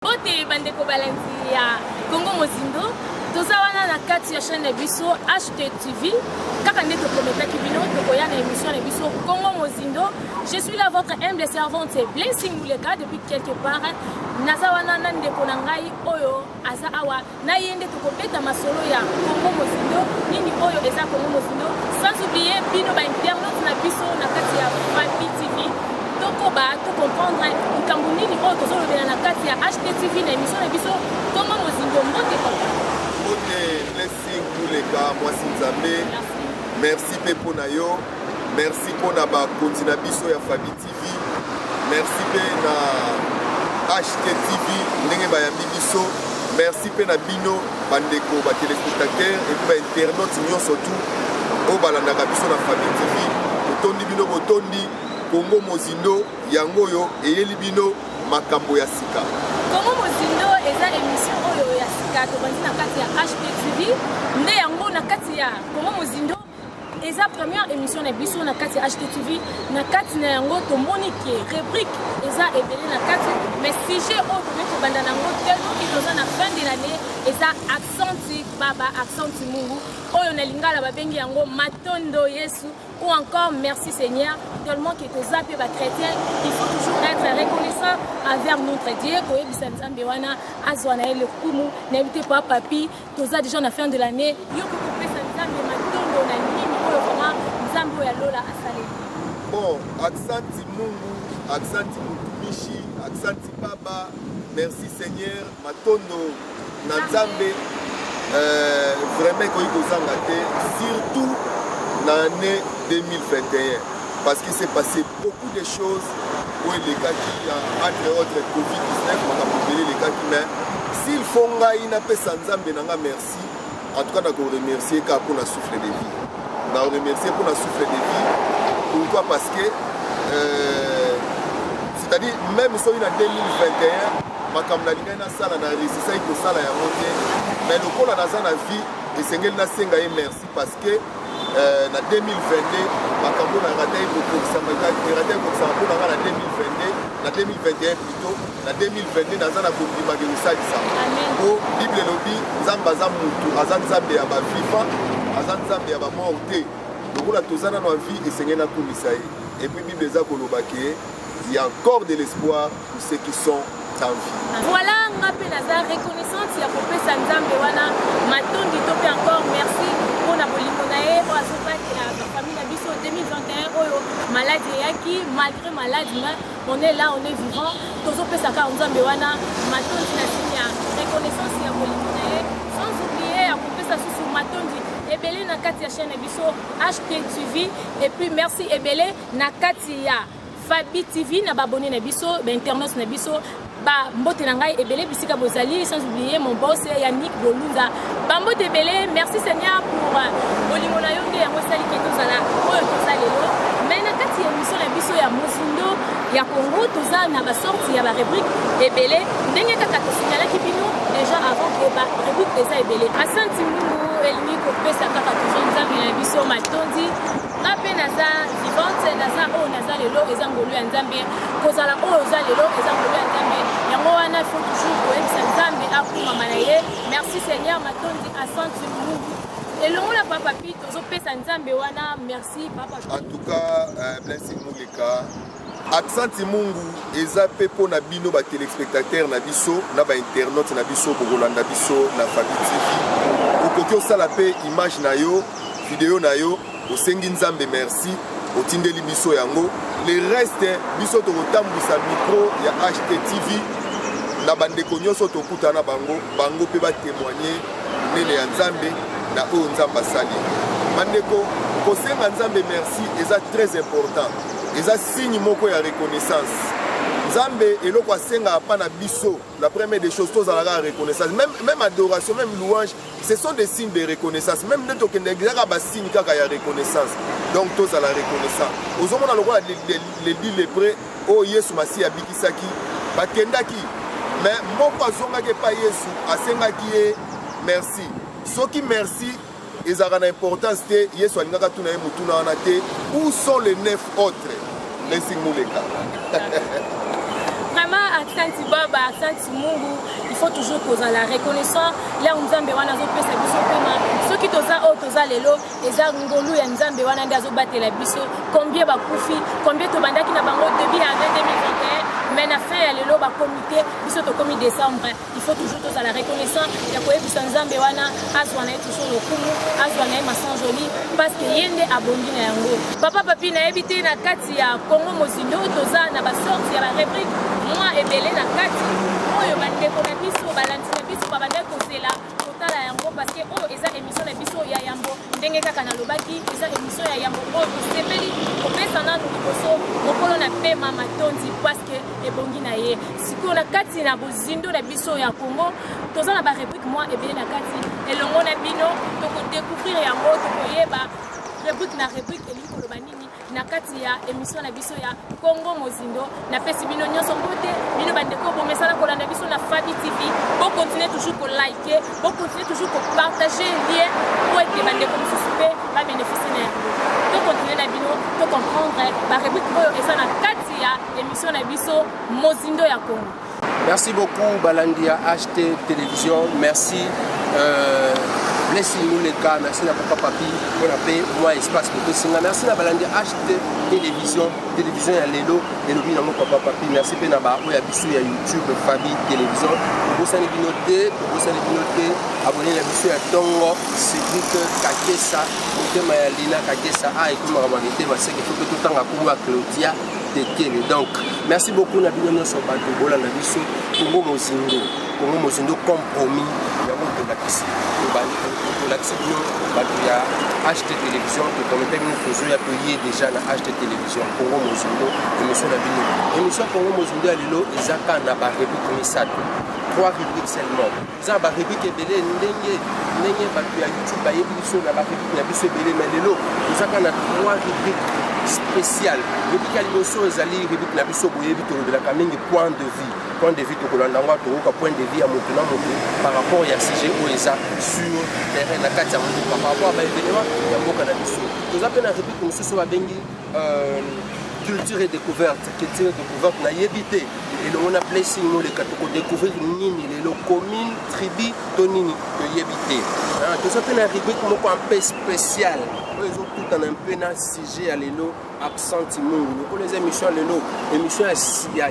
Bote bandeko balandi ya Congo Mozindo, toza wana na kati ya chaîne na biso HTTV kaka nde toprometaki bino tokoya na émission na biso Congo Mozindo. Je suis là votre humble servante Blessing Muleka depuis quelque part. Naza wana na ndeko na ngai oyo aza awa na ye nde tokobeta masolo ya kongo mozindo nini oyo eza kongo mozindo sans oublier bino bainternet na biso na kati ya fabi tv tokoba tocomprendre likambo nini oyo tozolobela na kati ya ht tv na émission na biso kongo mozindo mbote papa mbote blessing kuleka mwasi nzambe merci mpe mpo na yo merci mpo na bakonzi na biso ya fabi merci mpe na htv ndenge bayambi biso merci mpe na bino bandeko batelespectateur epi bainternaute nyonso tu oyo balandaka biso na famille tv totondi bino botondi kongo mozindo yango oyo eyeli bino makambo ya sika kongo mozindo eza emission oyo ya sika tobandi na kati ya htv nde yango na kati ya kongo mozindo eza première émission na biso na kati ya httv na kati na yango tomoni ke rubrique eza ebele na kati mais sujet oyo tokoki kobanda na yango te oki toza na fin de l'année eza accenti baba accenti mungu oyo na lingala babengi yango matondo yesu ou encore merci seigneur tellement que toza mpe bachrétien il faut toujours être reconnaissant envers notre dieu koyebisa nzambe wana azwa na ye lokumu nayebi te pa papi toza deja na fin de l'année yo ko kopesa nzambe matondo na nini oyo vraiment nzambe oyo ya lola asaleli bon aksanti mungu aksanti mutumishi aksanti baba merci seigneur matondo na nzambe euh, vraiment ekoki kozanga te surtout na année 2021 parce qu'il s'est passé Beaucoup de choses oyo elekaki ya entre autres Covid-19 makambo ebele elekaki mais s'il faut ngai napesa Nzambe na nga merci en tout cas nako remercier kaka mpo na souffle de vie na remercier mpo na souffle de vie pourquoi parce que euh, c'est-à-dire même soki na 2021 makambo nalingaki nasala na resisaki kosala yango te mais lokola naza na vie esengeli nasenga ye merci parce que euh, na 2022 makambo na rata ekokokisama rata ekokisama mpo na nga na 2022 na 2021 plito na 2022 naza na kondima ke kosalisama mpo bible elobi nzambe aza motu aza nzambe ya baviva aza nzambe ya bamor te lokola toza nano ya vie esengeli nakumisa ye epuis bible eza koloba ke ya encore de l'espoir Pour ceux qui sont en vie. Voilà nga mpe naza reconnaissante ya kopesa nzambe wana matondi to mpe encore merci mpo na bolingo na ye oyo azobatela bafamille na biso 2021 oyo maladi eyaki malgré maladi mais on est là on est vivant tozopesa kaka nzambe wana matondi na sini ya reconnaissance ya bolingo na ye sans oublie ya kopesa susu matondi ebele na kati ya chaîne na biso htv et puis merci ebele na kati ya Fabi TV na ba abonné na biso, ba internautes na biso, ba mbote na ngai ebele bisika bozali sans oublier mon boss Yannick Bolunga. Ba mbote ebele, merci Seigneur pour euh, bolingo na yo nde yango esali ke tozala oyo toza lelo. Mais na kati ya émission na biso ya Mozindo ya Congo toza na ba sortie ya ba rubrique ebele ndenge kaka tosignalaki bino déjà avant que ba rubrique eza ebele. Asante Mungu elingi kopesa kaka toujours nzambe na biso matondi nga mpe naza vivante naza oyo naza lelo eza ngolu ya nzambe kozala oyo oza lelo eza ngolu ya nzambe yango wana fo toujours koyebisa nzambe akumama na ye merci seigneur matondi asante mungu elongo na papa pi tozopesa nzambe wana merci papa en tout cas euh, blessing moleka Aksanti mungu eza pe po na bino ba telespectateurs na biso na ba internautes na biso bokolanda biso na Fabi TV. Okoki osala pe image na yo, video na yo, osengi Nzambe merci, otindeli biso yango. Le reste biso tokotambwisa micro ya HTTV na bandeko nyonso tokutana bango, bango pe ba témoigner nene ya Nzambe na oyo Nzambe asali. Bandeko kosenga Nzambe merci eza très important. eza signe moko ya reconnaissance nzambe eloko asengaka mpa na biso la première des choses tozalaka ya reconnaissance même, même adoration même louange ce sont des signes de reconnaissance même nde tokendeki ezaka basigne kaka ya reconnaissance donc tozala reconnaissant ozomona lokola ledi lepre oyo oh, yesu masiya abikisaki bakendaki mais moko azongaki epai yesu asengaki ye merci soki merci Ezalaka na importance te, Yesu alingaki atuna ye motuna wana te, où sont les neuf autres? Blessing Muleka. vraiment aksanti baba aksanti mungu il faut toujours kozala reconnaissant leo nzambe wana azopesa biso mpema soki toza oyo toza lelo eza ngolu ya nzambe wana nde azobatela biso combien bakufi combien tobandaki na bango debut ya 2021 mais na fin ya lelo bakomi te biso tokomi décembre il faut toujours tozala reconnaissant ya koyebisa nzambe wana azwa na ye toujours lokumu azwa na ye masanjoli parce que ye nde abongi na yango papa papi nayebi te na kati ya congo mozindo toza na basorte ya barebrike mwa ebele na kati oyo bandeko na biso balandi na biso babandaki kozela kotala yango parce que oyo eza émission na biso ya yambo ndenge kaka nalobaki eza émission ya yambo oyo tosepeli kopesa nanu liboso mokolo na pema matondi parce que ebongi na ye sikoyo na kati na bozindo na biso ya congo toza na barepublike mwa ebele na kati elongo na bino tokodécouvrir yango tokoyeba replique na replique elingi koloba nini na kati ya emission na biso ya congo mozindo napesi bino nyonso mbote bino bandeko bomesana kolanda biso na fabi tv bokontinue toujours kolike bokontinue toujours kopartage lien po ete bandeko mosusu mpe babeneficie na yango tokontinue na bino tocomprendre bareplique oyo eza na kati ya emission na biso mozindo ya congo merci beaucoup balandi ya ht television merci euh, blessing moleka merci na papa papi mpona mpe mwa espace bopesinga merci na balandi ya ht television television ya lelo elobi nango papa papi merci mpe na baoyo ya biso ya youtube fabi television tobosani bino te tobosani bino te abone na biso ya ntongo cedrik kakesa motema ya lina kakesa a ekomaka mwa mitema seke fo mpe totanga nkombo ya claudia tekele donc merci beaucoup na bino nyonso bato bolanda biso kongo mozindo kongo mozindo compromis yango tolakisi tolakisi bino bato ya ht télévision tokomete bino tozoya toye déjà na ht télévision kongo mozindo émission na bino émission kongo mozindo ya lelo eza kaka na barépublique misato trois rubrique seulement eza ba rubrique ebele ndenge ndenge bato ya youtube bayebi biso na ba rubrique na biso ebele mai lelo ezaka na trois rubrique spécial rubrique ya liboso ezali rubrique na biso boyebi tolobelaka mingi point de vue point de vue tokolanda yango tokoka point de vue ya moto na moto par rapport ya sujet oyo eza sur terrain na kati ya mboka par rapport ya baevenema ya mboka na biso toza mpe na rubrique mosusu babengi culture et découverte culture et découverte nayebi te elongo na blessing noleka tokodécouvrir nini lelo commune tribu to nini toyebi te ah, toza mpe na rubrique moko mpe spécial oyo ezokutana mpe na sujet ya lelo absente mungu lokola eza émission ya lelo émission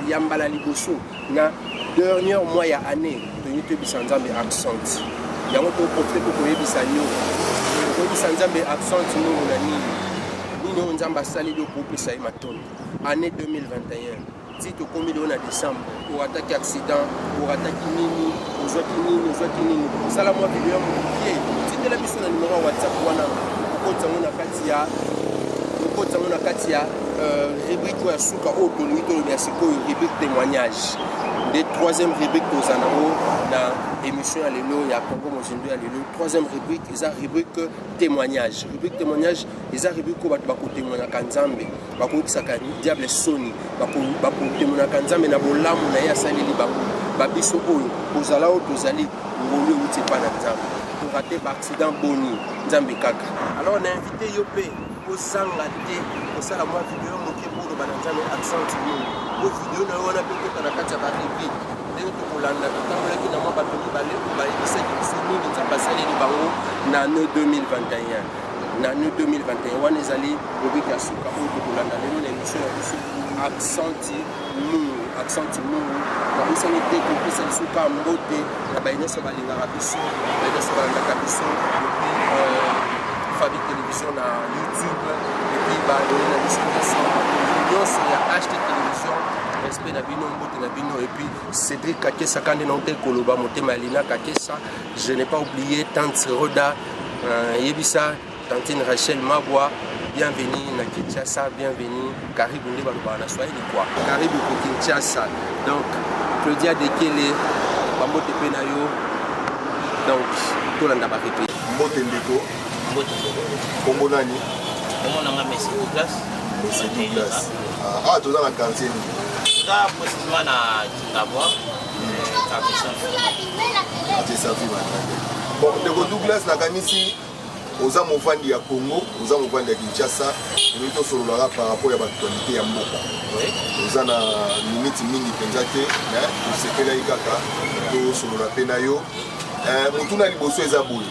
ya mbala liboso na dernière mois ya année tolingi toyebisa nzambe accent yango toprofite mpo koyebisa yo koyebisa nzambe accent nini na nini nini oyo nzambe asaleli yo kopesa ye matondo année 2021 ti tokomi lelo na décembre orataki accident orataki nini ozwaki nini ozwaki nini sala mwa video ya mokie tindela biso na numero ya whatsapp wana okotisa yango na kati ya okotisa yango na kati ya euh, rubrike oyo ya suka oyo tolingi toloba ya sikoyo rubrike témoignage nde troisième rubrike toza nango na émission ya lelo ya congo mozindo ya lelo troisième rubrike eza rubrike témoignage rubrike témoignage eza rubrike oyo bato bakotemoignaka nzambe bakoyokisaka diable soni bakotemonaka nzambe na bolamu na ye asaleli bango babiso oyo kozala oyo tozali ngolu euti epai na nzambe torate baaccident boni nzambe kaka alors na invite yo mpe kozanga te kosala mwa video moke boloba na nzambe accent nini po video na yo wana mpe kota na kati ya barepi ndenge tokolanda totambolaki na mwa bato mibale oyo bayebisaki biso nini nzambe asaleli bango na 2021 na nu 2021 wana ezali rubrike ya suka oyo tokolanda lelo na emission na biso accenti mungu accenti mungu nabosani te kopesa biso ka mbote na baye nyonso balingaka biso baye nyonso balandaka biso euh, fabi télévision na youtube epuis balongi na biso nyonso nyonso ya ht télévision respect na bino mbote na bino epuis cédrik kakesa kande na ote koloba motema ya lina kakesa Je n'ai pas oublié Tante Roda, euh, Yebisa, Tantine Rachel Magua, bienvenue na Kinshasa, bienvenue Karibu nde balobaka na Swahili quoi. Karibu ko Kinshasa. Donc Claudia Dekele, bambote mpe na yo. Donc tolanda ba replique. Mbote ndeko. Mbote ndeko. Kombo nani? Kombo nanga Messi Douglas. Messi Douglas. Ah, ah toza na quartier nini? Toza précisément na D'abord, Kakusa Fima. Bon, ndeko Douglas nakanisi oza movandi ya Congo, oza movandi ya Kinshasa, olingi tosololaka par rapport ya baaktualité ya mboka. Oza na miniti mingi mpenza te, mais tosepelaki kaka tosolola mpe na yo. Eh, motuna liboso eza boye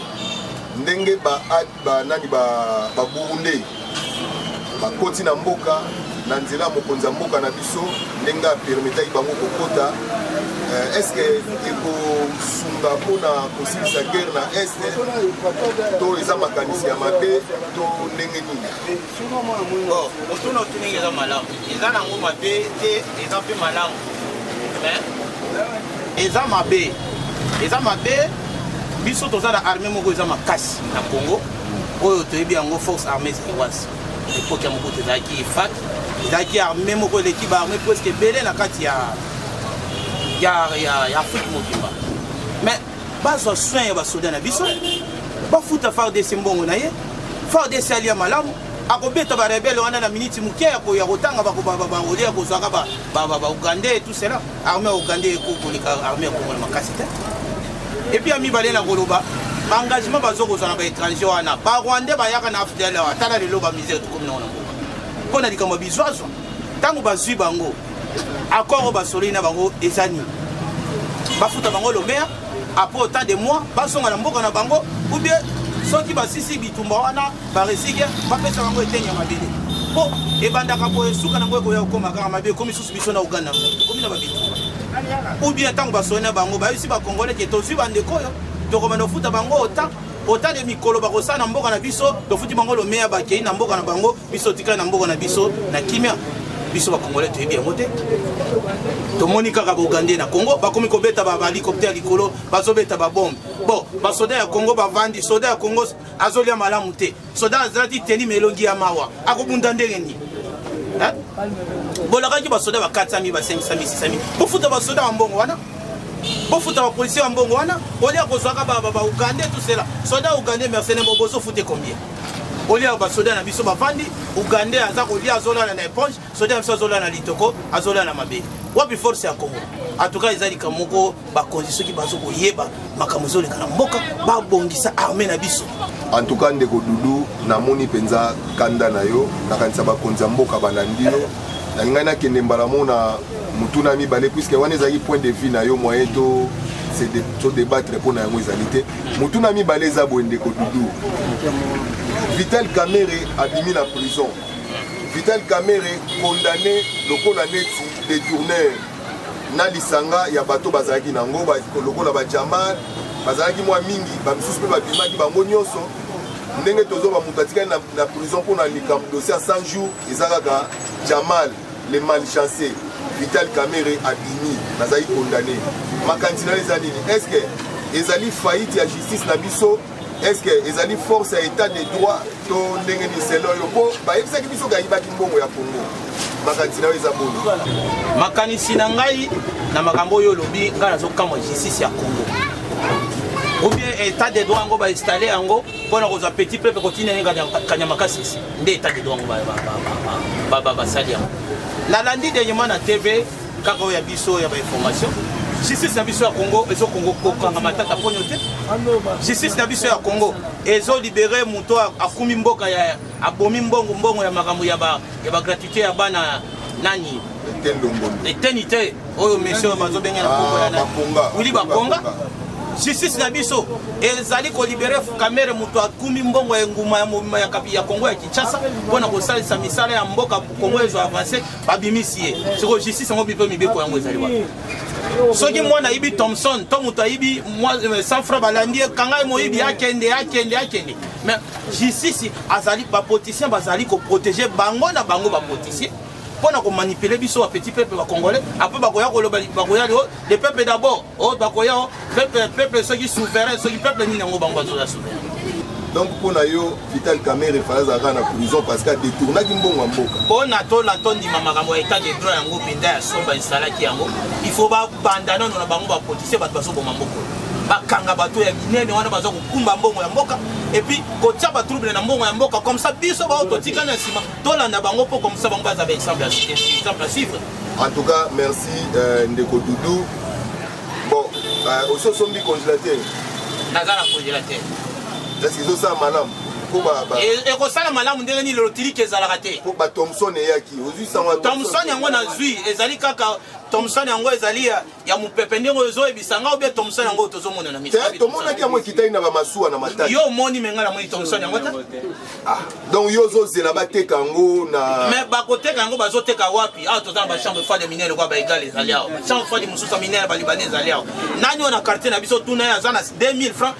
ndenge ba Ba nani ba ba Burundais bakoti na mboka na nzela mokonzi ya mboka na biso ndenge apermetaki bango kokota euh, est ce que ekosunga mpona kosilisa guerre na est to eza makanisi ya mabe to ndenge nini otuna otunenge eza malamu eza nango mabe te eza mpe malamu eza mabe eza mabe biso toza na armée moko eza makasi na congo oyo toyebi yango force armée zaïroise epoki ya mokutu ezalaki ifat ezalaki armée moko eleki baarmée presque ebele na kati ya ya afrique mobimba mais bazwa soin ya basoda na biso bafuta fardc mbongo na ye fardc alia malamu akobeta barebele wana na miniti moke ya kotanga bakobabaole ya kozwaka baugandais tout cela armée ya ugandais ekokoleka armée ya kongo na makasi te epuis ya mibale na koloba baengagement bazo kozwa na baétranger wana barwandais bayaka na afdl atala lelo bamisere tokomi nango na mboka mpo na likambo ya bizwazwa ntango bazwi bango accord oyo basololi na bango eza nini bafuta bango lomea apres autant de mois bazonga na mboka na bango ou bien soki basisi bitumba wana baresike bapesa bango eteni ya mabele mpo ebandaka boye suka nango ekoya kokoma kaka mabe ekomi susu biso na uganda ekomi na babitumba ou bien ntango basoli na bango bayebisi bakongole ke tozwi bandeko oyo tokomanda kofuta bango autant autant de mikolo bakosala na mboka na biso tofuti bango lomea bakei na mboka na bango biso tika na mboka na biso na kimia biso bakongole toyebi yango te tomoni kaka baugandais na congo bakomi kobeta bahelicoptère ya likolo bazobeta babombe bon basoda ya congo bavandi soda ya congo azolia malamu te soda azalaki teni ma elongi ya mawa akobunda ndenge nini bolakaki basoda ba 400 000 ba 500 000 600 000 bofuta basoda ya mbongo wana bofuta bapolisier ya mbongo wana olia kozwaka baugandais tusela soda ugandais mercenaire bozofuta combien olia oyo basoda na biso bavandi ugandais aza kolia azolala na eponge soda na biso azolala na litoko azolala na mabele wapi force ya congo atuka eza likambo moko bakonzi soki bazo koyeba makambo ezoleka na mboka babongisa arme na biso antuka ndeko dudu namoni mpenza kanda na yo nakanisa bakonzi ya mboka balandi yo nalingai nakende mbala mo na motuna mibale puiske wana ezalaki point de vue na yo moyen to se debattre mpo na yango ezali te motuna mibale eza boye ndeko dudu vital kamere abimi na prison vital kamere condamné lokola neti détourneur na lisanga ya bato bazalaki na yango lokola bajamar bazalaki mwa mingi bamisusu mpe babimaki bango nyonso ndenge tozoba moto atikali na prison mpo na likambo dossier ya 100 jours eza kaka jamal Le malchance Vital Kamerhe abimi azali condamne. Makanisi na yo eza nini? Est-ce que ezali faillite ya justice na biso? Est-ce que ezali force ya etat de droit to ndenge ni selon yo? Po bayebisaki biso kayibaki mbongo ya Congo. Makanisi na yo eza boni? Makanisi na ngai na makambo oyo olobi ngai nazokamwa justice ya congo ou bien état de droit yango bainstalle yango mpo na kozwa petit peuple kotinda ye kanya makasisi nde etat de droit yango basali yango nalandi dernièrement na tv kaka oyo ya biso ya bainformation justice na biso ya congo ezokongo kokanga matata mponio te justice na biso ya congo ezolibere moto akumi mboka ya abomi mbongo mbongo ya makambo ya bagratuité ya bana nani eteni te oyo mission bazo benga na kombo ya bakonga wili bakonga justice na biso ezali kolibere kamere moto akumi mbongo ya enguma ya mobima ya kapi ya kongo ya kinshasa mpo na kosalisa misala ya mboka kongo ezo avance babimisi ye sikoyo justice yango bipe mibeko yango ezali wapi soki mwana ayibi thomson to moto ayibi euh, sanfra balandi ye kanga ye moyibi akende akende akende mais justice azali bapoliticien bazali koprotege bango na bango bapoliticien mpo na komanipule biso ba petit peuple ba congolais apres bakoya koloba bakoya lio de peuple d'abord o oh, bakoya o peuple peuple soki souverain soki peuple nini yango bango bazoya souverain donc mpo na yo vital camere fala azalaka na prison parce que adetournaki mbongo ya mboka mpo na tola tondima makambo ya état de droit yango mpenza ya somba esalaki yango il faut babanda nano na bango bapolitise bato bazoboma mbokolo bakanga bato ya minene wana baza kokumba mbongo ya mboka epuis kotia batrouble na mbongo ya mboka comme ça biso baoyo totikani na nsima tolanda bango mpo komisa bango baza baexemple ya exemple à suivre en tout cas merci euh, ndeko doudou bon euh, osi osombi congélateur naza na congélateur eske ezosala malamu e, ekosala malamu ndenge nini lotiliki ezalaka te po batomson eyaki ozwi sango tomson yango nazwi ezali kaka tomson yango ezali ya mupepe ndenge oyo ezoyebisa nga obe tomson yango oyo tozomona na miso eh, tomonaki yango ekitaki na bamasuwa na matali yo omoni me nga namoni tomson yango te ah, donc yo ozozela bateka yango na me bakoteka yango bazoteka wapi awa toza na bachambre froide ya minere kwa baegal ezali awa bachambre froide mosusu ya minere balibane ezali awa nani oyo na quartier na biso tuna ye aza na 2000 francs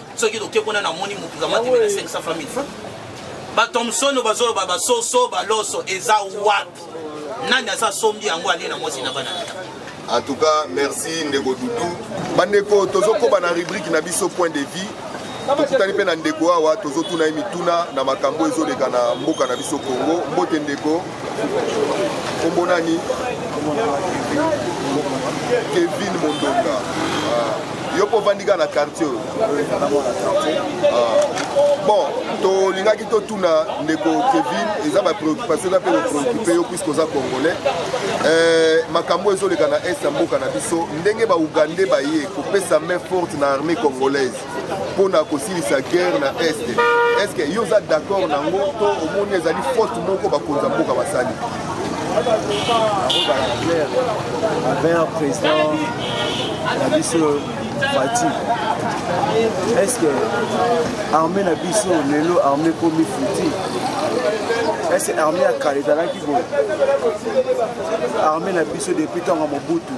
soki toke kuna namoni motu kamati na 500 famille franc batomsono bazoloba basoso baloso eza wapi nani aza sombi yango alie na mwasi na bana en tout cas merci ndeko dudu bandeko tozokoba na rubrike na biso point de vie tokutani mpe na ndeko awa tozotuna ye mituna na makambo ezoleka na mboka na biso congo mbote ndeko Kombo nani? Kevin Mondonga. Ah, yo mpo ovandi kaka na quartier oyo? Ah, bon, tolingaki totuna ndeko Kevin, eza ba préoccupation eza mpe kopreoccupe yo puisque oza congolais. Eh, makambo ezoleka na est ya mboka na biso, ndenge ba Ougandais baye kopesa main forte na armée congolaise mpo na kosilisa guerre na est est ce que yo oza d'accord na yango to omoni ezali faute moko bakonzi ya mboka basali avert président na biso fati est ce que armée na biso lelo armée ekomi futi est ce que armée ya kala ezalaki boye armée na biso depuis ntango ya mobutu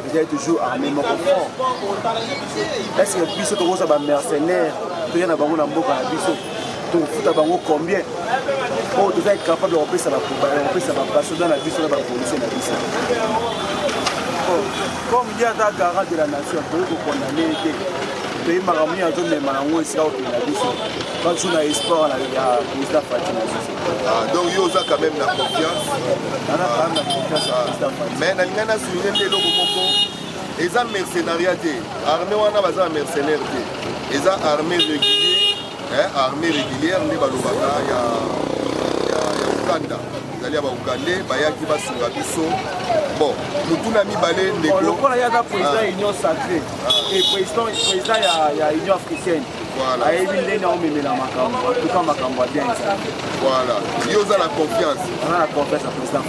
Vous êtes toujours armé moko fort. Est-ce que biso tokoza ba mercenaires toya na bango na mboka na biso tokofuta bango combien oyo toza incapable ya kopesa kopesa basoda na biso na bapolisie na biso comme ye aza garant de la nation toyei kokondane ye te toyebi makambo nini azomema yango esika kokenda biso bajour na espoir ya président fatima Ah, donc yo oza quand même na confiance mais nalingai na souligne nde eloko moko eza mercenaria te armée wana baza na mercenaire te eza armée régulier armée régulière nde balobaka ya uganda ezali ya baugande bayaki basunga biso bon motuna mibale ndekolokola yaka président union sacré ah. et président ya union africaine ayebi ndenge aomemela makambo atuka makambo ya bien ezali voilà yo oza na confiance oza na confiance ya président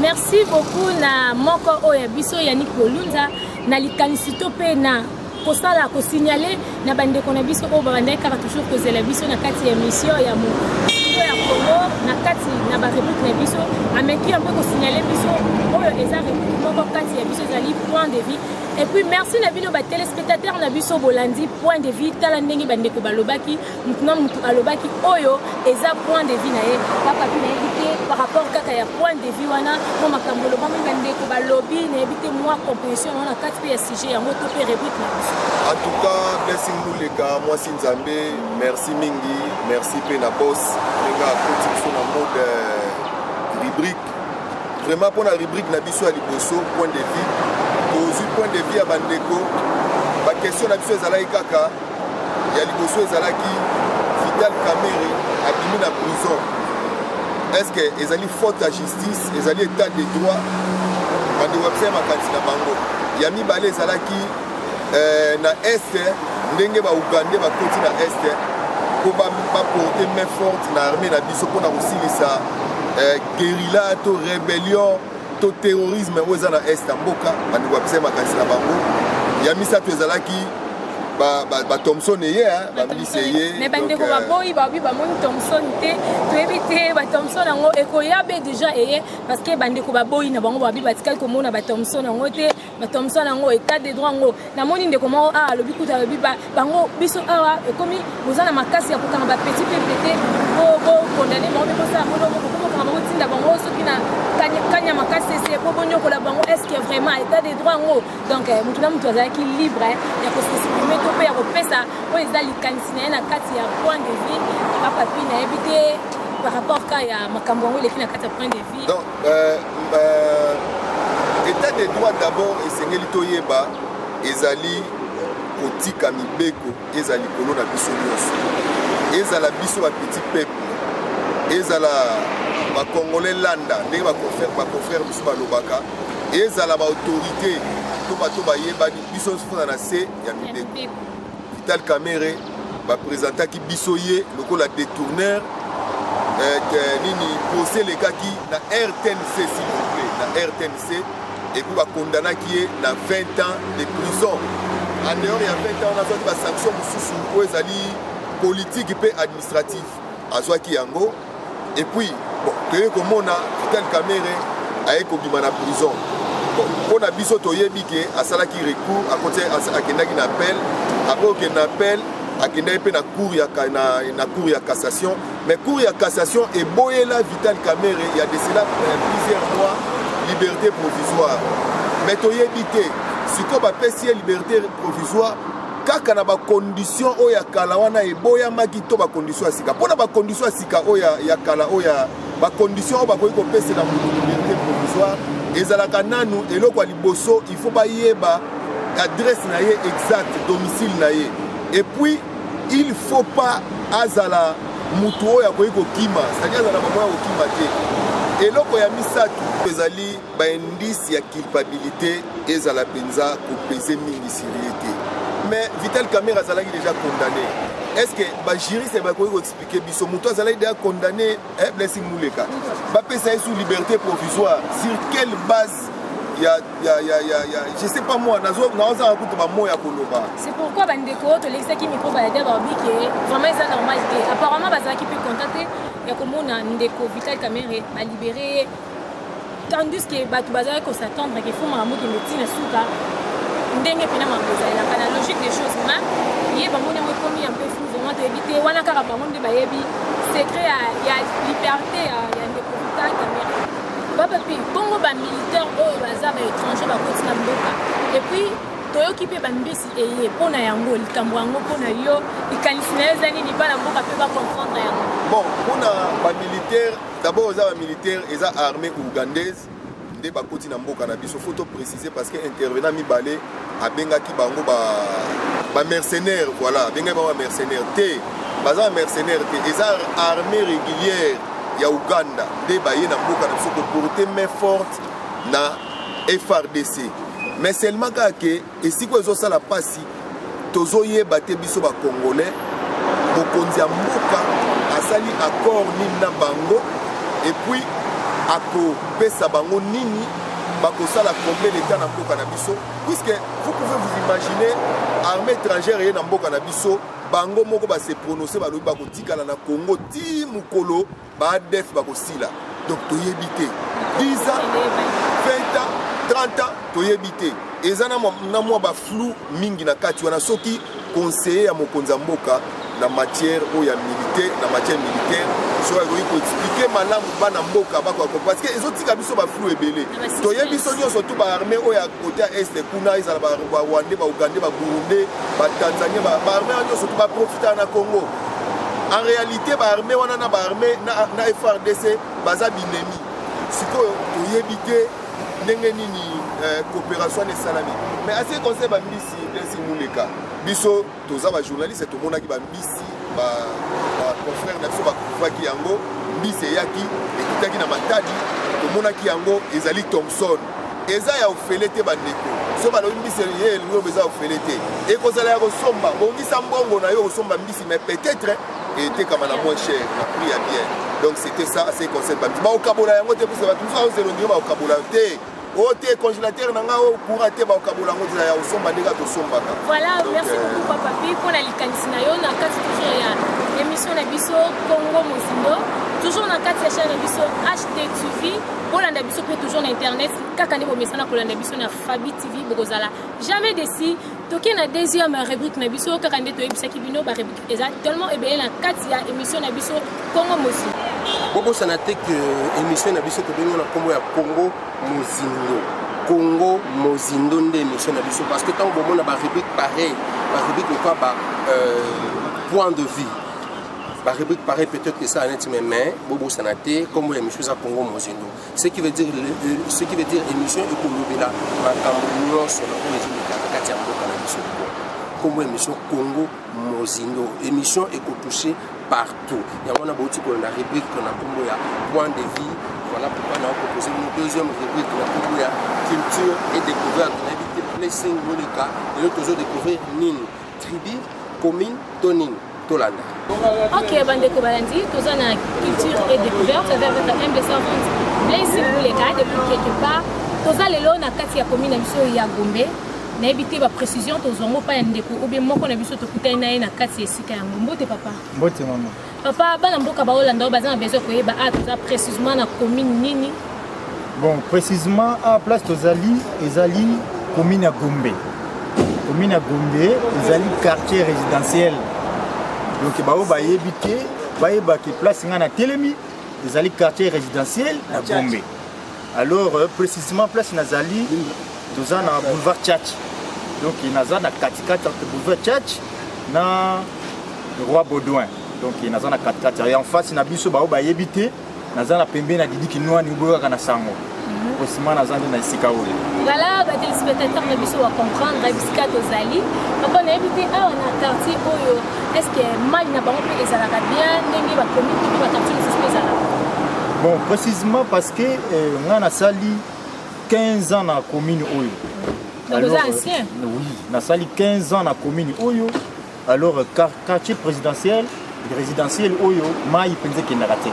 merci beaucoup na moko oyo ya biso yanik bolunza na likanisi to mpe na kosala kosignale na bandeko na biso oyo babandaki kaka toujours kozela biso na kati ya émission ya mokilo ya kongo na kati na barepublike na biso ameki yango kosignale biso oyo eza republike moko kati ya biso ezali point de vie Et puis merci na bino ba téléspectateurs na biso bolandi point de vue tala ndenge ba ndeko balobaki mutu na mutu alobaki oyo eza point de vue na ye papa bi nayebi te par rapport kaka ya point de vue wana mpo makambo olobami ba ndeko balobi nayebi te mwa composition wana kati mpe ya sujet yango to mpe rubrique na biso en tout cas blessing luleka mwasi nzambe merci mingi merci mpe na boss ndenge akoti biso na mode euh, rubrique vraiment mpona rubrique na biso ya liboso point de vie tozwi point de vie ya bandeko baquestion na biso ezalaki kaka ya liboso ezalaki vital camere abimi na prison estce ezali faute ya justice ezali état de droit bandeko ya biso ya makanisi na bango ya mibale ezalaki eh, na est ndenge ba ougandais bakoti na est mpo baporte main forte na armée na biso mpo na kosilisa eh, guerilla to rébellion to terrorisme oyo eza na est ya mboka bandeko bapesa makanisi na bango ya misato ezalaki bathomson ba, ba eye bamilisi eye me bandeko euh, baboyi babi bamoni thomson te toyebi te bathomson yango ekoya be deja eye parce que bandeko baboyi na bango babi batikali komona bathomson yango te bato ya mosala yango etat de droit yango namoni ndeko moko awa alobi kutu alobi bango biso awa ekomi boza na makasi ya kokanga bapeti mpe pete bokondane bango mpe bosala molongo bokomokanga bango tinda bango soki na kanya makasi ese mpo bonyokola bango estce vraiment etat de droit yango donc eh, motu na motu azalaki libre eh, ya kosexprime to mpe ya kopesa oyo eza likanisi na ye na kati ya point de vie bapapi nayebi te par rapport ka ya makambo yango eleki na kati ya point de vie Euh, euh, etat de droit d'abord esengeli toyeba ezali kotika mibeko eza likolo na biso nyonso ezala biso bapetit peuple ezala bakongole landa ndenge baconfrère biso balobaka ezala baautorité to bato bayebani biso nyonso fona na se ya mibeko Vital Kamerhe ba presentaki biso ye lokola detourneur eh, nini procès elekaki na RTNC s'il vous plaît na RTNC et puis ba condamnaki ye na 20 ans de prison en dehors ya 20 ans nazwaki ba sanction mosusu oyo ezali politique mpe administratif azwaki yango et puis bon toye komona vital kamere aye kobima na prison bon mpo na biso toyebi ke asalaki recours akoti akendaki na appel apres okende na appel akendaki mpe na cour ya, na, na cour ya cassation mais cour ya cassation eboyela vital kamere ya de cela euh, plusieurs mois liberté provisoire mais toyebi te sikoyo bapesi ye liberté provisoire kaka na bakondition oyo ya kala wana eboyamaki to bakondition ya sika mpo na bakondition ya sika oyo ya kala oyo ya bakondition oyo bakoki kopesela moto liberté provisoire ezalaka nanu eloko ya liboso il faut bayeba adresse na ye exact domicile na ye epuis il faut pas azala motu oyo akoki kokima sadi azala bamoi ya kokima te eloko ya misato ezali ba indice ya culpabilité ezala penza kopese mingi sur ye te mais vital camera azalaki déjà condamné est ce que bajuriste bakoki koexplike biso moto azalaki déjà condamné eh, blessing muleka bapesa ye sous liberté provisoire sur quelle base ya ya ya ya ya je sais pas moi nazo naozanga kutu ba mots ya koloba c'est pourquoi ba ndeko oyo tolekisaki micro ba yada babi ke vraiment eza normal te apparemment bazalaki mpe contacte ya komona ndeko vital camere balibere ye tandis que bato bazalaki ko s'attendre que fo makambo ekende ti na suka ndenge mpena makambo ezalelaka na logique des choses ma ye bango nde yango ekomi ya mpe flou vraiment toyebi te wana kaka bango nde bayebi secret ya liberte ya ndeko vital kamere baba mpe bongo bamilitaire oyo baza baétranger bakoti na mboka epuis toyoki mpe bambisi eye mpo na yango likambo yango mpo na yo likanisi na yo eza nini bana mboka mpe bacomprendre yango bon mpo na bamilitaire D'abord eza ba militaire eza armée ougandaise nde bakoti na mboka na biso faut to préciser parce que intervenant mibale abengaki bango ba ba mercenaires voilà abengaki bango ba mercenaires te baza ba mercenaires te eza armée régulière ya Ouganda nde baye na mboka na biso ko porter main forte na FRDC mais seulement kaka ke Esiko ezo sala pasi tozo yeba te biso ba congolais mokonzi ya mboka asali accord nini na bango et puis akopesa bango nini bakosala combien d'etat na mboka na biso puisque vous pouvez vous imaginer armée étrangère eye na mboka na biso bango moko base prononce balobi bakotikala na congo ti mokolo Ba adf bakosila donc toyebi te 10 ans 20 ans 30 ans toyebi te eza na mwa baflou mingi na kati wana soki conseiller ya mokonzi ya mboka na matière oyo ya militaire na matière militaire soki akoki koexplike malamu bana mboka bakoka parce que ezotika biso baflou ebele toyebi biso nyonso tu baarme oyo ya kote ya este kuna ezala barwandais baougandais baburundais batanzanien baarme ya nyonso tu baprofitaka na congo en réalité ba armée wana na ba armée na, na FRDC baza binemi sikoyo toyebi te ndenge nini euh, coopération wana esalami mais assez conseil bambisi desi muleka biso toza bajournaliste tomonaki bambisi baconfrère na biso bakufaki yango mbisi eyaki ekitaki na matadi tomonaki yango ezali thomson eza ya ofele te bandeko so balobi mbisi ye elingobe eza ofele te ekozala ya kosomba bongisa mbongo na yo kosomba mbisi mais peut-être etekama na moins cher na prix ya bien donc c'était ça assez conseil bamisi baokabola yango te pusa bato mosusu aozela ondenge baokabola yo te o te congélateur na ngai okura te baokabola yango ozela ya kosomba ndenge atosombaka voilà merci euh, beaucoup papa pi mpo na likanisi na yo na kati toujours ya émission na biso congo mozindo toujours na kati ya chaine na biso htv bolanda biso mpe toujours na internet kaka nde bomesana kolanda biso na fabi tv bokozala jamais desi toke na deuxième rubrique na biso kaka nde toyebisaki bino barubrique eza tellement ebele na kati ya émission na biso congo mozindo bobosana te ke émission na biso tobengi na nkombo ya congo mozindo congo mozindo nde émission na biso parce que ntango bomona barubrique pareil barubrique lokola ba euh, point de vue ba rubrique pareil peut-être que ça net mais mais bobo sanate comme les missions à Congo Mozindo ce qui veut dire ce qui veut dire émission et pour lobela makambo nyonso na oyo ezolekaka kati ya mboka na biso comme émission Congo Mozindo émission et pour toucher partout yango na bouti kolanda rubrique na kombo ya point de vie voilà pourquoi na proposé une deuxième rubrique na kombo ya culture et découverte na yebi te placing moleka lelo tozo découvrir nini tribu commune to nini tolanda ok bandeko balandi toza na culture et découverte avec votre humble servante blaise bouleka depuis quelque part toza lelo na kati ya commune na biso ya gombe nayebi te baprécision tozwa yango mpa ya ndeko obe moko na biso tokutani na ye na kati ya esika yango mbote papa mbote mama Papa, bana mboka baolanda oyo baza na besoin koyeba a ah, toza précisément na commune nini bon précisément a ah, place tozali ezali commune ya gombe commune ya gombe ezali quartier résidentiel donc baoyo bayebi te bayebaki place ngai na telemi ezali quartier résidentiel na gombe Alors euh, précisément place nazali toza na boulevard Church. Donc naza na katikati entre boulevard Church na Roi Baudouin. Donc naza na katikati. Et en face na biso bao bayebi te naza na pembeni na Didi Kinwani oboyaka na sango. osima naza nde na esika oyo voilà batelespectateur na biso bacomprendre bisika tozali papa nayebi te awa na quartier oyo Est-ce que mayi na bango mpe ezalaka bien ndenge ba commune mpe ba quartier mosusu mpe ezalaka? Bon, précisément parce que euh, nga nasali 15 ans na commune oyo. Donc Alors, oza euh, ancien? Oui, nasali 15 ans na commune oyo. Alors euh, quar- quartier présidentiel, résidentiel oyo mayi mpenza ekendaka te.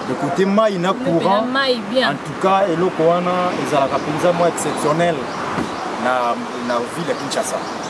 De côté mayi na Mpe na courant, mayi en bien. tout cas eloko wana ezalaka mpenza mwa exceptionnel na, na ville ya Kinshasa.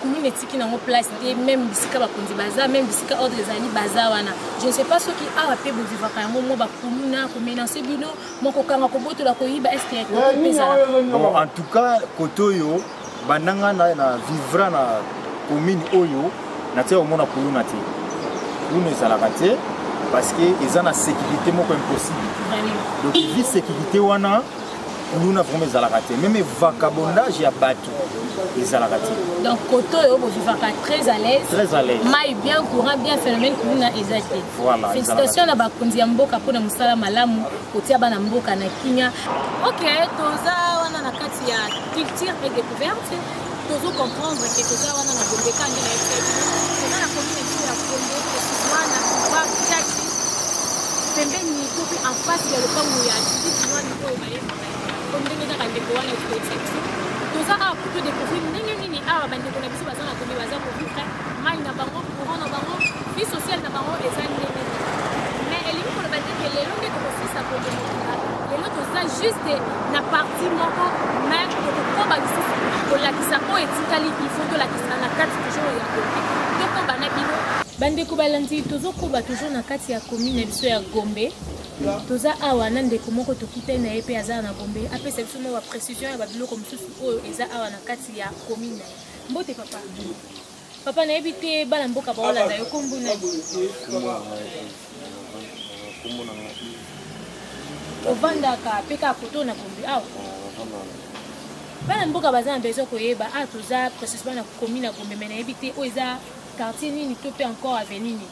commune etiki nango place te meme bisika bakonzi baza meme bisika ordre ezali baza wana je ne sais pas soki awa mpe bovivaka yango mwa bakuluna komenance bino mwa kokanga kobotola koyiba eske en tout cas kote oyo bandanga na vivra na commune oyo natia komona kuluna te kuluna ezalaka te parce que eza na sécurité moko impossible donc vi sécurité wana luna vraimen ezalaka te meme vacabondage ya bato ezalaka te donc kote oyo bovivaka très à l'aise très à l'aise mai bien courant bien phénomène kuluna eza te voilà félicitation na bakonzi ya mboka mpona mosala malamu kotia bana mboka na kimia ok toza wana na kati ya culture et découverte tozo comprendre ke toza wana na gombe ka nde nayebi te toza na commune etu ya gombe wana ba jaki pembeni to mpe en face ya lopango ya judite wani oyo bayebaka po ndenge kaka ndeko wana ekoyebisa biso toza awa kutu découvrir ndenge nini awa bandeko na biso baza na gombe baza kovivre mai na bango courant na bango vie sociale na bango eza ndenge mais elingi koloba te ke lelo nde tokosisa gombe mobimba Lelo toza juste na partie moko mais tokokoba lisusu kolakisa oyo etikali il faut tolakisa na kati toujours ya koki tokoba na bino bandeko balandi tozokoba toujours na kati ya commune na biso ya gombe toza awa na ndeko moko tokutani na ye mpe aza na gombe apesa biso mwa baprecision ya babiloko mosusu oyo eza awa na kati ya commune na ye mbote papa Papa nayebi te bana mboka baolanda yo kombo nani? Kombo na nga Yves. Ovandaka pe kaka koto na kombi awa. Bana mboka baza na besoin koyeba ah toza précisément na komi na Gombe mais nayebi te oyo eza quartier nini to pe encore avenue nini?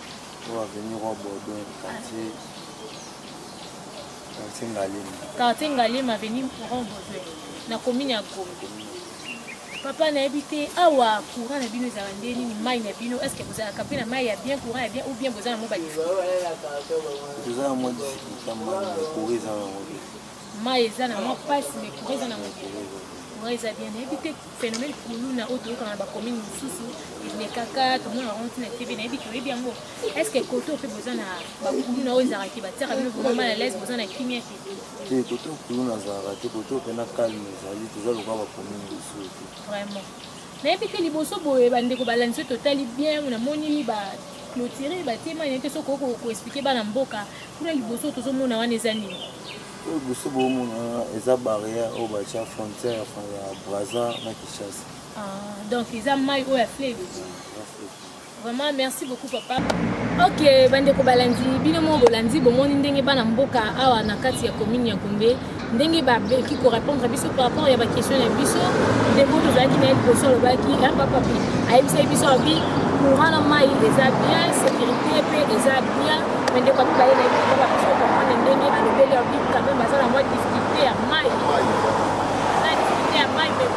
Oyo avenue Roi Baudouin quartier quartier Ngalema. Quartier Ngalema avenue Roi Baudouin na commune ya Gombe. papa nayebi te awa courant na bino ezala nde nini mai na bino estce bozalaka mpe na mai ya bien courant ya bien ou bien boza na mo mai eza na mwa mpasi mai courant eza na mobe courant eza bien nayebi te phénomène kuluna oyo toyokaka na bacommune mosusu elekaka tomona yango ntina tv nayebi te oyebi yango estce koto mpe boza na bakuluna oyo ezalaka te batiaka bino vraimen mal à l'aise boza na kimia te te kote okulu nazalaka te kote ope na kalme ezali toza lokola bakomi liboso te vraiment nayebi te liboso boye bandeko balandi soki totali bien namoni ba clotire batema nayebi te soki okoki koexplike bana mboka kuna liboso tozomona wana eza nini oyo liboso boomona wana eza barrière oyo batya frontière ya braza na kinshasa ah, donc eza mai oyo ya fleve Vraiment merci beaucoup papa. Ok bandeko balandi bino moko bolandi bomoni ndenge bana mboka awa na kati ya commune ya Gombe ndenge babeki korépondre biso par rapport ya baquestion na biso ndeko tozalaki na ye liboso alobaki ya papa mpe ayebisaki biso abi courant na mai eza bien sécurité mpe eza bien me ndeko amibale na ye mpe babiso komprendre ndenge alobeli abi quand même aza na mwa difficulté ya mai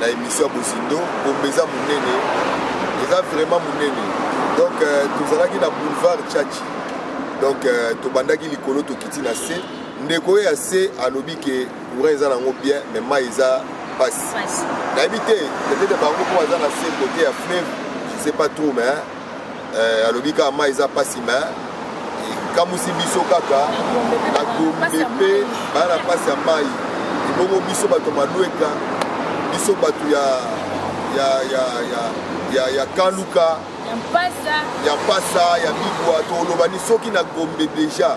na emission ya bozindo bombe eza monene eza vraiment monene donc euh, tozalaki na boulevard chachi donc euh, tobandaki likolo tokiti na se ndeko oyo ya se alobi ke courant eza nango bien mais mai eza mpasi nayebi te peut-être bango mpo baza na se kote ya fleuve je sais pas trop mais eh, alobi kaka mai eza mpasi me ekamusi biso kaka na gombe mpe baya na mpasi ya mai ebongo biso bato ya malweka biso bato ya ya ya ya ya, ya kaluka ya mpasa ya migwa tolobani soki na gombe deja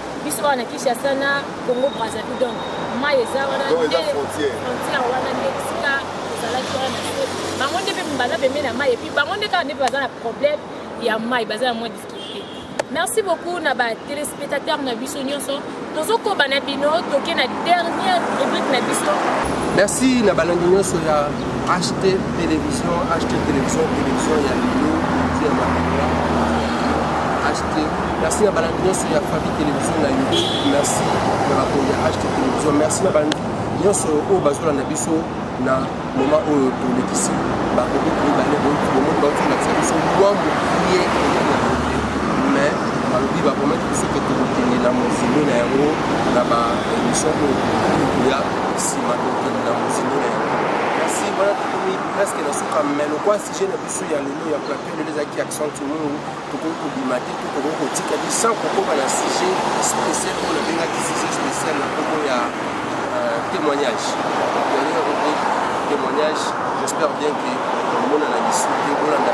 biso awa na kinshasa na congo brazzaville donc mai eza wana frontière wana nde esika ezalaki wana na se bango nde mpe baza pembe na mai epuis bango nde kaka nde mpe baza na problème ya mai baza na moins difficulté merci beaucoup na batelespectateur na biso nyonso tozokoba na bino toke na dernière rubrique na biso merci na balandi nyonso ya ht télévision ht télévision télévision ya lelo ya Merci na balandi nyonso ya famille télévision na YouTube. Merci na bakonzi ya HT télévision. Merci na balandi nyonso oyo bazolanda biso na moma oyo tolekisi bakoki koyebane bomoni bauti kolakisa biso mwa mokie mais balobi bakomaki biso ke tokokende na mozindo na yango na baémission oyo ya nsima tokokende na mozindo na yango kasi wana tokomi presque na suka mais lokwa sujet na biso ya lelo ya plateau lelo ezalaki accent mungu tokoki kobima te to tokoki kotika te sans kokoma na sujet spécial oyo nabengaki sujet spécial na nkombo ya euh, témoignage dernier rubrique témoignage j'espère bien que omona na lisu te olanda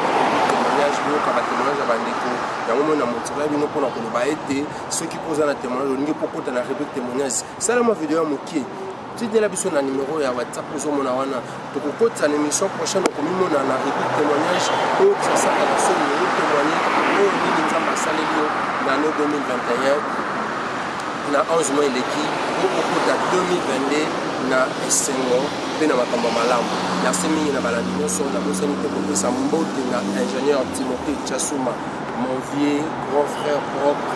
témoignage boyoka batémoignage ya bandeko yango moi na motiva bino mpona koloba ete soki mpo oza na témoignage olingi mpo okota na rubrique témoignage salama video ya moke tidela biso na numero ya whatsapp ozomona wana tokokotisa na émission prochaine okomimona na rebi témoignage oyo tosasaka na soni oyo témoigne oyo nini nzambe asaleli yo na ano 2021 na 11 mois eleki po okota 2022 na esengo mpe na makambo malamu merci mingi na balandi nyonso nabosani te kopesa mbote na ingénieur timote chasuma Mon vieux grand frère propre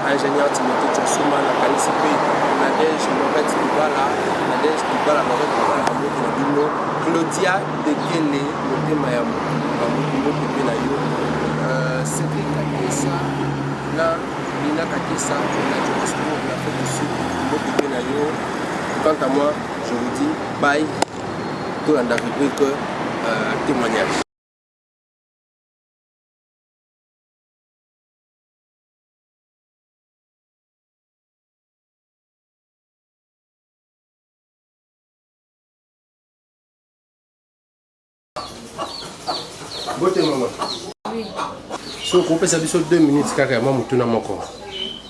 ingénieur Timothée Tchosuma na kanisi pe Nadège Lorette Libala Nadège Libala Lorette Libala na mboki na bino Claudia Dekele motema ya mboki mboki pe na yo euh, Cédric Kakesa na Lina Kakesa na Johannesburg na Afrique du Sud mboki pe na yo quant à moi je vous dis bye tolanda rubrique euh, témoignage Bote maman. Oui. So kopesa biso 2 minutes kaka ya mwa motuna moko.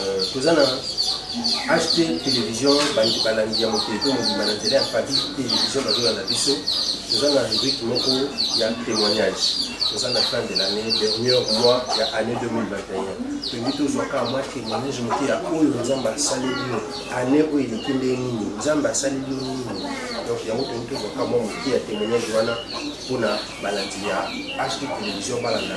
Euh, toza na ht télévision bandi balandi ya mokili to mobimba na nzela ya papi télévision bazolanda biso toza na rubrike moko ya témoignage toza na fin de l'année dernier mois ya année 2021 tolingi tozwa kaka mwa témoignage moke ya oyo nzambe asaleli yo année oyo eleki nde nini nzambe asaleli yo nini donc yango tolingi tozwa kaka mwa moke ya témoignage wana mpona balandi ya ht télévision balanda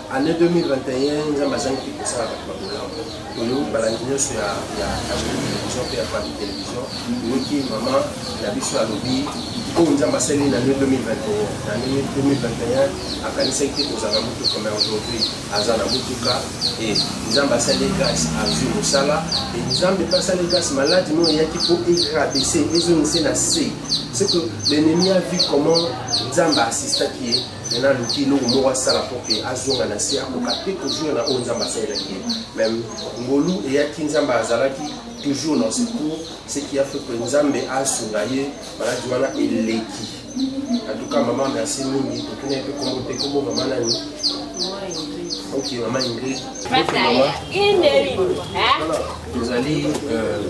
Année 2021 nzambe azangi mpe kosala bato babolamu oyo balandi nyonso ya hd télévision mpe ya fami télévision oyoki mama na biso alobi oyo nzambe asali na 2021 na 2021 akanisaki te kozala na motuka mai aujourd'hui aza na motuka e nzambe asali grâce azwi mosala e nzambe mpe asali grâce maladi no eyaki mpo egradese ezongise na se ce que l'ennemi a vu comment nzambe assistaki ye Maintenant, aluki eloko moko asala mpo ke azonga na se akoka te kozonga na oyo nzambe asalelaki ye meme ngolu eyaki nzambe azalaki toujours na secours ce qui a fait que nzambe asunga ye maladi wana eleki en tout cas mama merci mingi totuna mpe kombo te kombo mama nani ok mama ingrid tozali euh,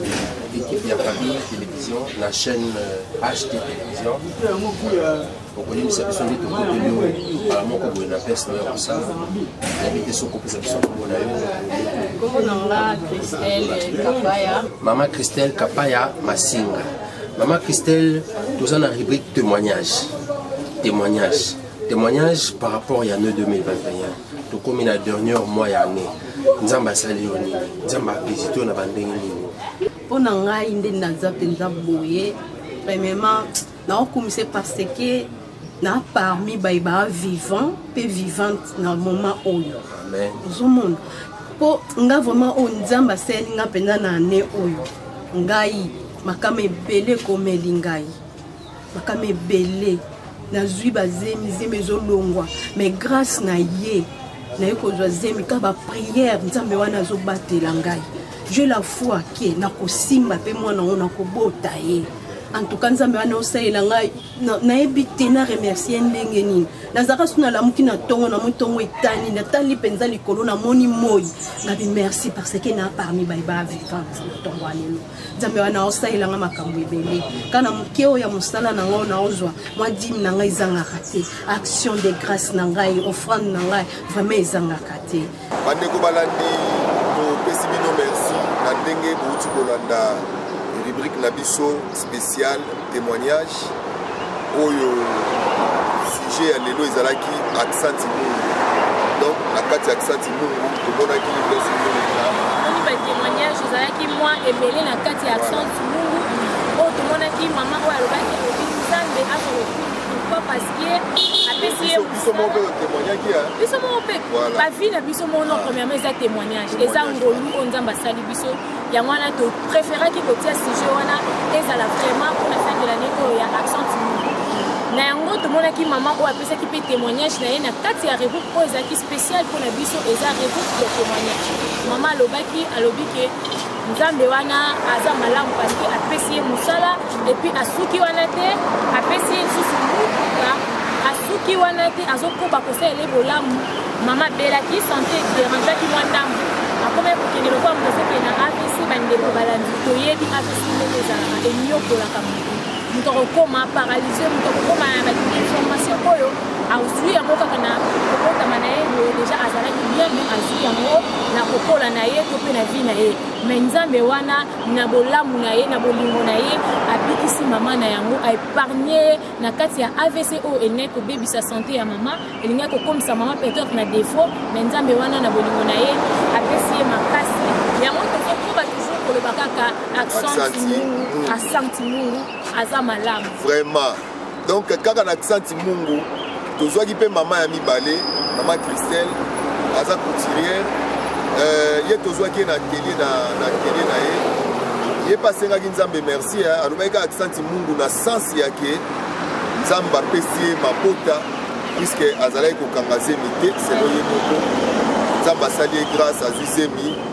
équipe ya famille télévision na chaîne ht euh, télévision okoyebisa biso nde tokoteli yo mbala moko boye na pese nayo ya kosala nayebi te soki kopesa biso kombo na yo mama christelle kapaya masinga mama christelle toza na rubrique témoignage témoignage témoignage par rapport ya ne 2021 tokomi na dernière mois ya année nzambe asali yo nini nzambe avisite yo na bandenge nini mpo na ngai nde naza mpenza boye premièrement naokumisa ye parce que na parmi baye baa vivant mpe vivante na moment oyo ozomona mpo nga vraiment oyo nzambe asaleli nga mpenza na ane oyo ngai makama ebele ekomeli ngai makama ebele nazwi bazemi zemi ezolongwa mais grâce na ye naye kozwa zemi ka bapriere nzambe wana azobatela ngai je la foi ke nakosimba mpe mwana yango nakobota ye en tout cas nzambe wana osalela ngai nayebi te na remercie ndenge nini nazalaka so nalamuki na ntongo na moi ntongo etani natali mpenza likolo namoni moi nabi merci parce que na parmi baye ba vivante na ntongo ya lelo nzambe wana osalela ngai makambo ebele kana moke oyo ya mosala na ngai naozwa mwa dime na ngai ezangaka te action de grâce na ngai offrande na ngai vraiment ezangaka te Bandeko balandi, topesi bino merci na ndenge bouti kolanda rubrique na biso spécial témoignage oyo sujet ya lelo ezalaki accent mungu donc na kati ya accent mungu tomonaki liboso omoni batémoignage ezalaki mwa ebele na kati ya accent mungu oyo tomonaki mama oyo alobaki obi nzambe azolokumu pourquoi parce ye apesi ye biso moko mpe otemoignaki biso moko mpe bavi na biso moko no premièrement eza témoignage eza ngolu oyo nzambe asali biso yango wana topréféraki kotia sujet wana ezala vraiment mpona fin de l'année oyo ya accent na yango tomonaki mama oyo apesaki mpe témoignage na ye na kati ya rebook oyo ezalaki spécial mpo na biso eza rebook ya témoignage mama alobaki alobi ke nzambe wana aza malamu parceke apesi ye mosala epuis asuki wana te apesi ye lisusu motuka asuki wana te azokoba kosalela ye bolamu mama abelaki sante derangeaki mwa ndambo akomaki kokende lokola moto azokende na avc bandeko balandi toyebi avc ndenge ezalaka enyokolaka moto moto akokoma paralyse moto akokoma na bainformation oyo azwi yango kaka na kokotama na ye boye deja azalaki bien me azwi yango na kokola na ye to mpe na vie na ye me nzambe wana na bolamu na ye na bolingo na ye abikisi mama na yango aepargne ye na kati ya avc oyo elingai kobebisa sante ya mama elingai kokomisa mama peut-être na defaut me nzambe wana na bolingo na ye apesi ye makasi yango tozokoba toujours koloba kaka accent timungu accent timungu aza malamu vraiment donc kaka na accent mungu tozwaki mpe mama ya mibale mama christelle aza couturière euh, ye tozwaki ye na atelier na, na atelier na ye ye mpe asengaki nzambe merci alobaki kaka accent mungu na sens yake nzambe apesi ye mabota puiske azalaki kokanga zemi te selo ye moko nzambe asali ye grâce azwi zemi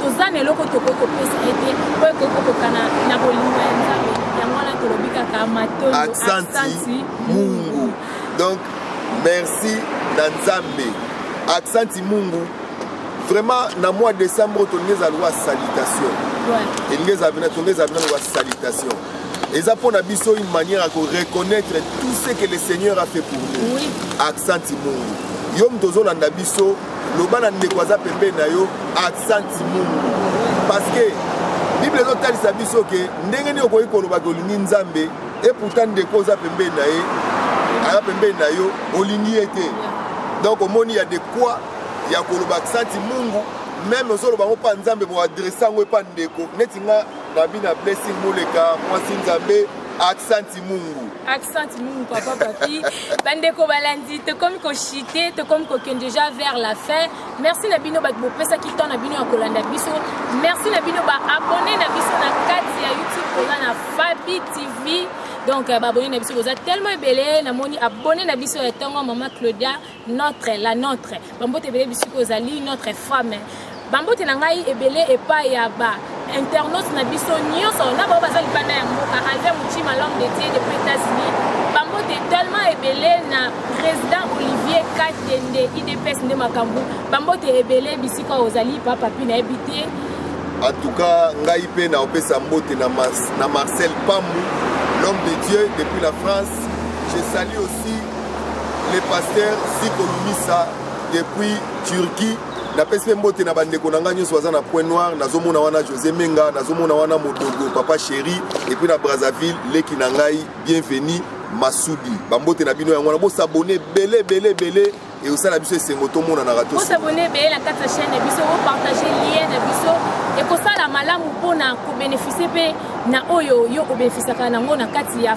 toza na eloko tokoki kopesa ye te oyo ekoki kokokana na bolingo ya nzambe yango wana tolobi kaka matolo aksanti mungu donc merci na nzambe aksanti mungu vraiment na mois décembre tolingi eza lwa salutation elingi eza bina tolingi eza bina lwa salutation eza mpo na biso une manière ya koreconnaitre tout ce que le seigneur a fait pour nous oui. aksanti mungu yo moto ozolanda biso loba na ndeko aza pembeni na yo aksanti mungu parceke bible ezotalisa biso ke ndenge nini okoki koloba ke olingi nzambe e pourtant ndeko oza pembeni na ye aza pembeni na yo olingi ye te donc omoni ya de quoi ya koloba aksanti mungu meme ozoloba yango mpa nzambe boadresse yango epa ndeko neti nga Rabina Blessing Moleka, Mwasi Nzambe, Accent Mungu. Accent Mungu, papa papi. Bandeko balandi, te comme ko chiter, te comme ko déjà vers la fin. Merci na bino bat bo pesa ki temps na bino ya kolanda biso. Merci na bino ba abonner na biso na kati ya YouTube koza na Fabi TV. Donc euh, ba abonner na biso boza tellement ebele, na moni abonner na biso ya tongo maman Claudia. Notre, la notre. Bambote ebele bisiko ozali notre femme. Bambote na ngai ebele epa ya ba internautes na biso nyonso na bao baza libanda ya mboka alve motima l'homme de dieu depuis états-unis bambote tellement ebele na président olivier katende idps nde makambo bambote ebele bisika ozali papapi nayebi te en tout cas ngai mpe naopesa mbote na, na marcel pambu l'homme de dieu depuis la france je salue aussi le pasteur ziko lumisa depuis turquie napesi mpe mbote na bandeko na ngai nyonso baza na point noir nazomona wana josé menga nazomona wana modogo papa chéri epuis na brazzaville leki na ngai bienvenu masudi bambote na bino yango wana bosabone ebele ebele ebele ekosala biso esengo tomonanaka tosabone ebele na kati ya chaîne na biso opartage lien na biso ekosala malamu mpona kobeneficie mpe na oyo yo obenefisiaka nango na kati ya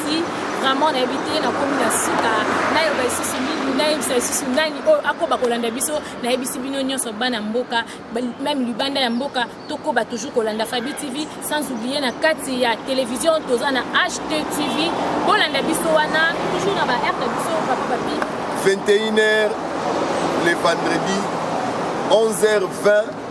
si vraiment nayebi te nakomi na suka nayeba lisusu nini nayebisa lisusu nani oyo akoba kolanda biso nayebisi bino nyonso bana mboka meme libanda ya mboka tokoba toujours kolanda fabi tv sans oublie na kati ya télévision toza na ht tv bolanda biso wana toujours na ba aire na biso papa papi 21 heures le vendredi 11 h 20